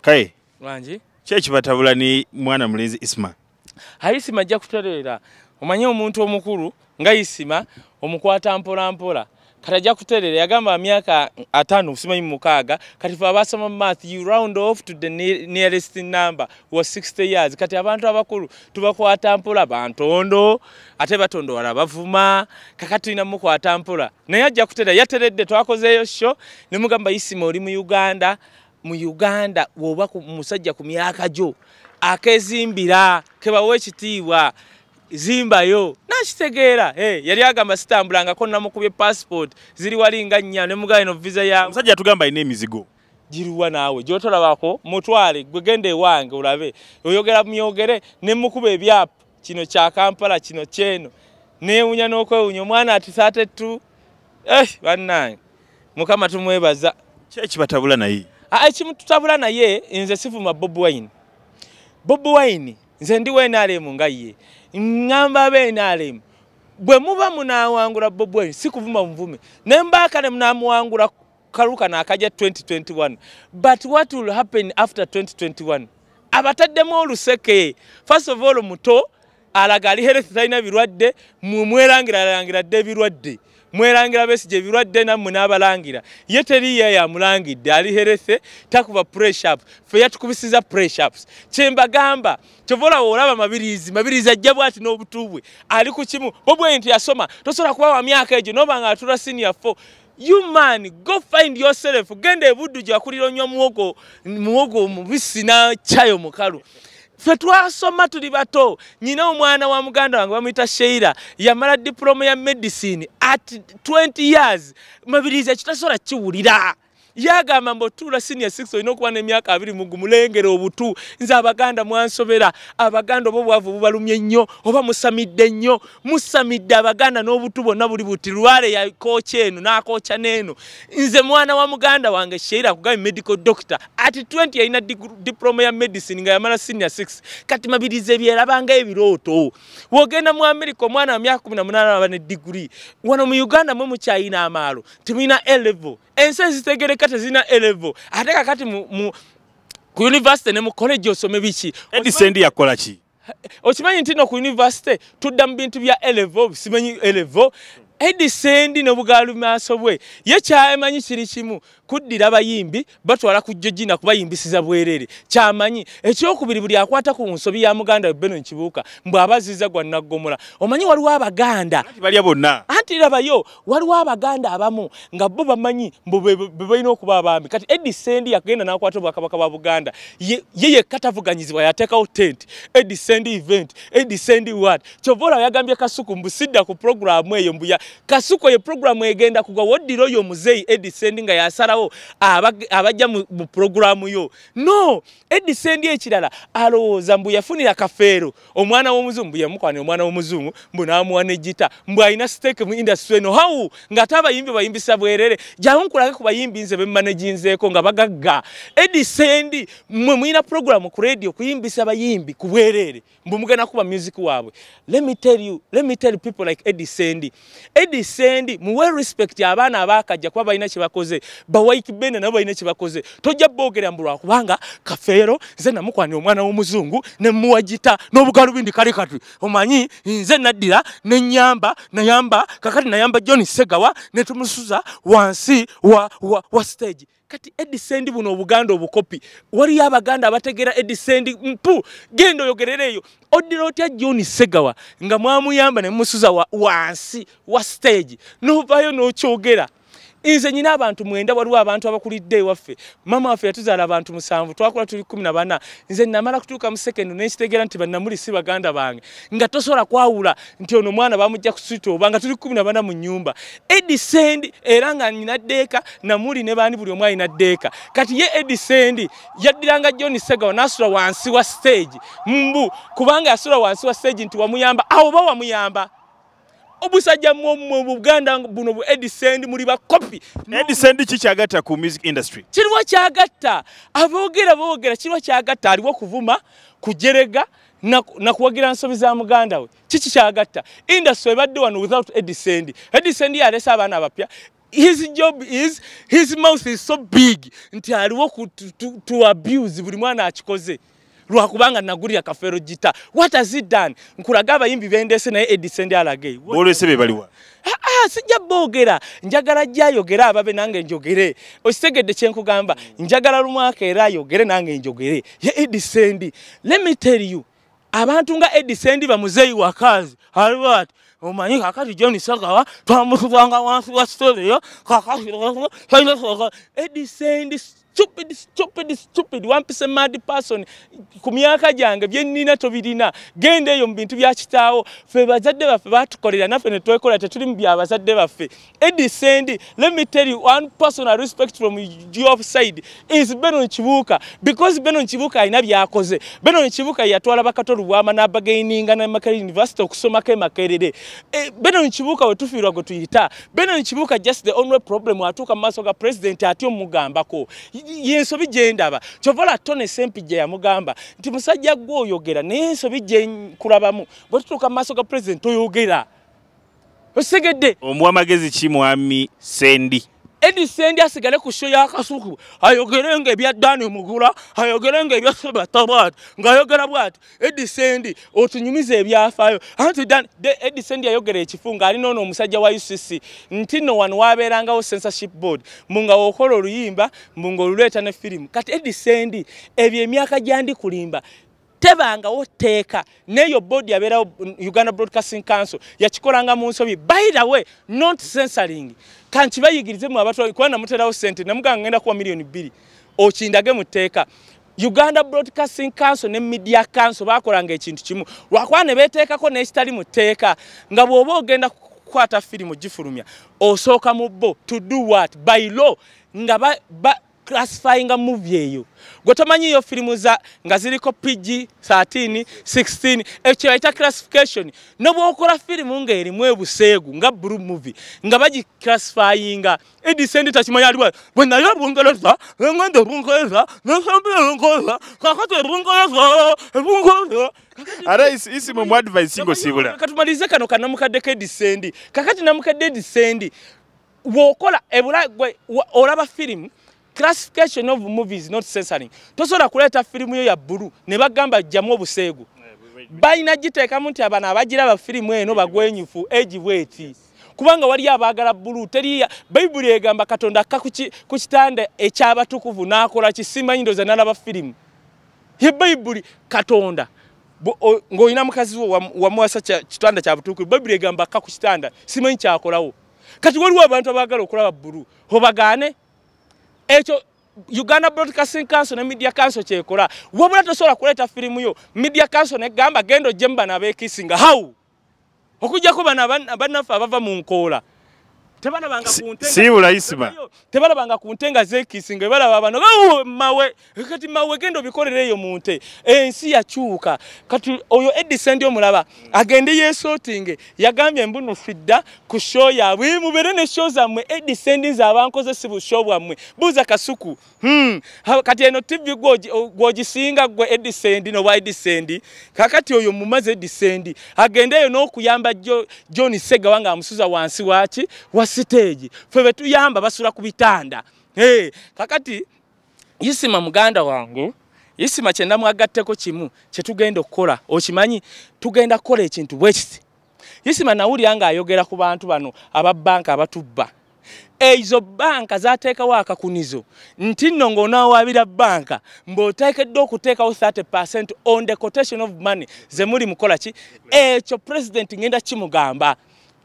kaye wangi kyekibatabula ni mwana mulenzi isma haisima ajja kutereera omanye omuntu omukulu nga isima omukwata mpolampola kati ajja kutereera yagamba myaka ataano simanyi mumukaaga kati fe abasoma math you round off to the nearest number wa 60 years kati abantu abakulu tubakwata mpola bantondo ate batondo wala bavuma kakati na muko atampura naye ajja kutera yateredde twakozeyo sho ne mugamba isima oli mu Uganda mu Uganda woba ku musajja ku myaka jo akezimbira keba wekitiwa zimba yo nakitegeera hey, yali agamba sitambulanga ko namukubye passport ziri wali nga nnya ne mugaye no visa ya musajja tugamba ine mizigo jiruwa nawe jotolabako mutwale gwegende wange ulabe oyogera myogere ne mukube byap kino kya kampala kino kyeno newunya nokwewunya omwana atisa ate tu eh, bannange mukama tumwebaza kyekibatabula naye ah, ekimututabula naye nze sivuma bob wine bob wine nze ndi wenalemu nga ye ŋŋamba benalemu bwe muba munawangula bob wine sikuvuma muvume nembaakale munamuwangula kalu kano akaja 2021 but what will happen after 2021 abataddemu oluseke first of all muto alaga ali health talina birwadde mwerangira alangira dde ebirwadde mwerangira besigye ebirwadde nammwe n'abalangira ye teriiyo yamulangidde ali herethe takuba pressup fe yatukubisiza pressups kyembagamba kyova olawo olaba mabiriizi mabiriizi ajja bwati n'obutu bwe ali ku kimu bobwe nti yasoma tosobola kuba wa myaka egyo noba nga atula senior fo You man, go find yourself. Genda ebudu ja kuliro nyo muogo, muogo mubisi na chayo mukalu. Fe twasoma tuli bato. Nyina omwana wa muganda wangu bamuita Sheila. Yamara diploma ya medicine at 20 years. Mabiliza chitasora chiwulira. Yagamba mbo tula senior 6 oyino kuwa ne miaka abiri mugu mulengere obutu. Nza abaganda mwansobera. Abaganda obo bwavu bubalumye nyo. Oba musamide nyo. musamidde abaganda n'obutu bwonna buli buti lwale yakooca eno n'akooca n'eno nze mwana wa muganda wange sheira kugabi medical doctor ati 20 yalina diploma ya medicine nga yamala senior 6 kati mabiriza ebyerabanga ebirooto wogenda mu america omwana wa myaka 18 aba ne diguri wano mu uganda mwe mukyayina amaalo temulina elevo ensi ezitegereka tezirina elevo ate kakati mu, mu ku university ne mu college osome biki edisendi yakola ki okimanyi nti no ku univesity tudda mu bintu bya elevo simanyi elevo edisendi nobugalu maaso bwe ye kyamanyi kiri kimu kuddira abayimbi batwala ku jojina kubayimbisiza bwerere kyamanyi ekyokubiri buli akwata ku nsobi ya muganda we beno nkibuuka mbwe abaziza gwa naggomola omanyi waliwo abaganda balya bonna anti labayo waliwo abaganda abamu nga bo bamanyi bebalina okuba abaami kati edi sendi yakugenda nakwata obwakabaka bwa buganda ye yekka tavuganyizibwa yatekawo tent edi sendi event edi sendi wat kyova olaba yagambye kasuku mbusidda ku programu eyo mbuya kasuku eyo programu egenda kugwa woddira oyo omuzeeyi edi sendi nga yasalawo abajja mu programu yo no edi sendi ekirala alowooza mbu yafunira kafeero omwana w'omuzungu mbu yamukwana omwana w'omuzungu mbu n'amuwa ne gita mbu alina siteeke mu indasitule eno hawu ng'ate abayimbi bayimbisa bwerere jangu nkulage ku bayimbi nze be mmaneginzeeko nga bagagga edi sendi mmwe mulina puroguramu ku rediyo kuyimbisa bayimbi ku bwerere mbu mugenda kuba music waabwe let me tell you let me tell people like edi sendi Eddie Sendi muwe respect abaana abakajja kuba balina kyebakoze bawayiki bene nabo balina kyebakoze tojja boogera mbu lwakubanga kafeero nze namukwanira omwana w'omuzungu ne muwagita n'obugalubindi kale kati omanyi nze naddira ne nyamba nayamba kakati nayamba John Segawa ne tumusuza wansi wa, wa, wa stage kati edi sendi buno obuganda obukopi waliyo abaganda abategeera edi sendi mpu genda oyogerera eyo oddira otya john segawa nga mwamuyamba nemusuza wansi wa stage novayo nokyogera nze nyina abantu mwenda waliwo abantu abakulidde ewaffe mama waffe yatuzaala abantu musanvu twakula tuli kumi na bana nze namala kutuuka mu sekendi nenkitegeera nti banamuli si baganda bange nga tosobola kwawula nti ono mwana bamujja kusita oba nga tuli kumi nabana mu nyumba edisend era nga nina ddeeka namuli ne baani buli omu alina ddeeka kati ye edisend yaddiranga john segawa nasula wansi wa stage mbu kubanga yasula wansi wa stage nti wamuyamba awo oba wamuyamba obusajja mu buganda buno bu edisend muli bakopi edisend kikyagatta ku music industry kiriwo kyagatta aboogera boogera kiriwo kyagatta aliwo kuvuma kujerega nakuwagira nsobi za muganda we kiki kyagatta industry ebadde wano without edisend edisend yalese abaana abapya his job is his mouth is so big nti aliwo ku to abuse buli mwana akikoze lwakubanga nagulira kafero gita what has he done nkulaga abayimbi bendese naye edisend alage bolese bebaliwa aa sijja boogera njagala ajja ayogere ababe nange njogere okitegedde kyenkugamba njagala lumwaka era ayogere nange njogere ye edisendi let me tell you abantu nga edisendi bamuzeeyi wakazi alwat omanyi kakati john sagawa twamukubanga wansi wa storio kakati edisendi stupid stupid stupid wampise mad person ku myaka gyange bye nnina tobirina genda eyo mu bintu bya kitaawo ffe bazadde baffe batukolera naffe ne twekola tetuli mu bya bazadde baffe edi sendi let me tell you one personal respect from your side is benon kibuuka because benon kibuuka alina byakoze benon kibuuka yatwala bakato lubwama n'abagaininga ne makere university okusomako emakerere eh, benon kibuuka we tufiirwa gwe tuyita Benon Kibuuka just the only problem atuuka mu maaso ga president atyo mugambako yensobi gyendaba kyovola tone sempijja yamugamba nti musajja gwe oyogera naye ensobi gyekulabamu bwe tutuuka mu maaso ga president toyogera osegedde omuwa magezi ki mwami sendi edi sendi asigale ku sho yakasuku ayogere nga ebya dani mugula ayogere nga ebya sebatabat ngaayogera bwati Eddie Sendi otunyumiza ebyafaayo anti dan de Eddie Sendi yayogera ekifu nga alina ono omusajja wa UCC nti no wano wabeerangawo censorship board mbu nga wokola oluyimba mbu nga oluleeta ne firimu kati Eddie Sendi ebyo emyaka gyandi kulimba tebangawo tteeka neeyo board yabeerawo Uganda Broadcasting Council yakikolanga mu nsobi by the way not censoring kankibayigirize mu abatu kuba namuterawo sente namuganga ngenda kuwa miliyoni bbiri okindage mu tteeka uganda broadcasting council ne media council bakolanga ekintu kimu lwakuba ne beteekako n'ekitali mu tteeka nga bw'oba ogenda kukwata firimu gifulumya osooka mu bo to do what by law nga ba, ba classifyinga muvi eyo gwe tomanyiyo firimu za nga ziriko pg 13 16 ekyo bayita classification nobwokola firimu ng'erimu ebuseegu nga bru muvi nga bagiclassifyinga Edi sendi tachimanya aliwa. Wena ya bungeleza, ngende bungeleza, ngesembe bungeleza, kakate bungeleza, bungeleza. Ara isi isi mu advice singo sibula. Katumalize kano kana mukadde ke disendi. Kakati na mukadde disendi. Wokola ebula gwe olaba film. classification of movies not censoring tosobola kuleeta firimu yo ya bbulu ne bagamba jjamu obuseegu balina giteekamu nti abana abagiraba firimu eno bagwenyufu egi bweti kubanga waliyo abaagala bbulu teri bayibuli egamba katonda akka ku kitanda ekyabatukuvu n'akola kisimanyi ndoza nalaba firimu ye bayibuli katonda ng'olina mukazi wo wamuwasa kitanda kya butukuvu bayibuli egamba akka ku kitanda simanyi kyakolawo kati waliwo abantu abaagala okulaba bbulu obagaane ekyo uganda broadcasting council ne media council kyekola wabula tosobola kuleeta firimu yo media council negamba genda ojjemu bano abekisinga how okujjako bano bannaffe abava mu nkoola tebalabanga ku nte nga zekisinga ebalaba bano mawe kati mawe genda obikolera eyo mu nte ensi yakyuka kati oyo edisendi omulaba agende yesotinge yagambye mbuno fidda ku sho yabwe mubere ne sho zammwe edisendi zabankoze si busho bwammwe buuza kasuku hmm. kati eno tivi gwogisinga gwe edisendi nobwa edisendi kakati oyo mumaze edisendi agende eyo n'okuyamba john segawa nga amusuza wansi waki wa siteegi fe betuyamba basula ku bitanda kakati isima muganda wange isima kyenda mwagatteko kimu kyetugenda okukola okimanyi tugenda kukola ekintu bwekiti isima nawulira nga ayogera ku bantu bano aba banka abatubba ezo banka zateekawo akakunizo nti nno ng'onawaabira banka mbw'oteekeddwa okuteekawo 30 percent on the quotation of money ze muli mukola ki ekyo pulezidenti ngenda kimugamba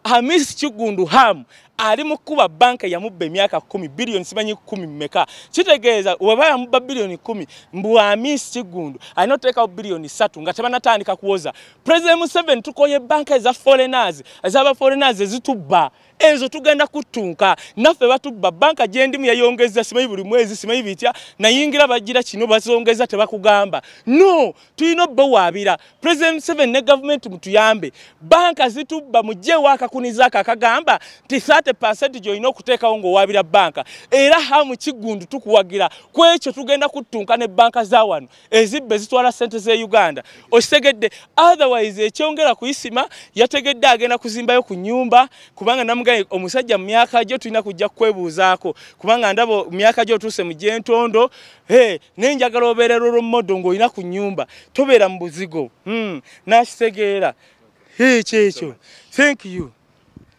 Hamis Kiggundu Ham ali mu kukuba banka yamubba emyaka kumi biliyoni simanyi kumi meka kitegeeza weba yamubba biliyoni kumi mbu Hamis Kiggundu alina oteekawo biliyoni satu nga tebanatandika kuwoza President Museveni tukoye banka eza foreigners ezaba foreigners ezitubba ezo tugenda kuttunka naffe batubba banka gyendimu yayongeza simanyi buli mwezi simanyi bitya nayingira bagira kino bazongeza tebakugamba no tulina obubawaabira president museven ne gavumenti mutuyambe banka zitubba mugyewo akakuniza ako akagamba nti 30 percent gyolina okuteekawo ng'owaabira banka era hamu kiggundu tukuwagira ku ekyo tugenda kuttunka ne banka za wano ezibba ezitwala ssente z'e uganda okitegedde otherwise ekyongera kuyisima yategedde agenda kuzimbayo ku nyumba kubanga namugaye omusajja mu myaka gyo tulina kujja kukwebuuzaako kubanga ndaba myaka gyo otuuse mu gyentondo Hey, naye njagala obeera roro modo ng'olina ku nyumba tobeera mu buzigo hmm, nakitegeera hey, kyekyo thank you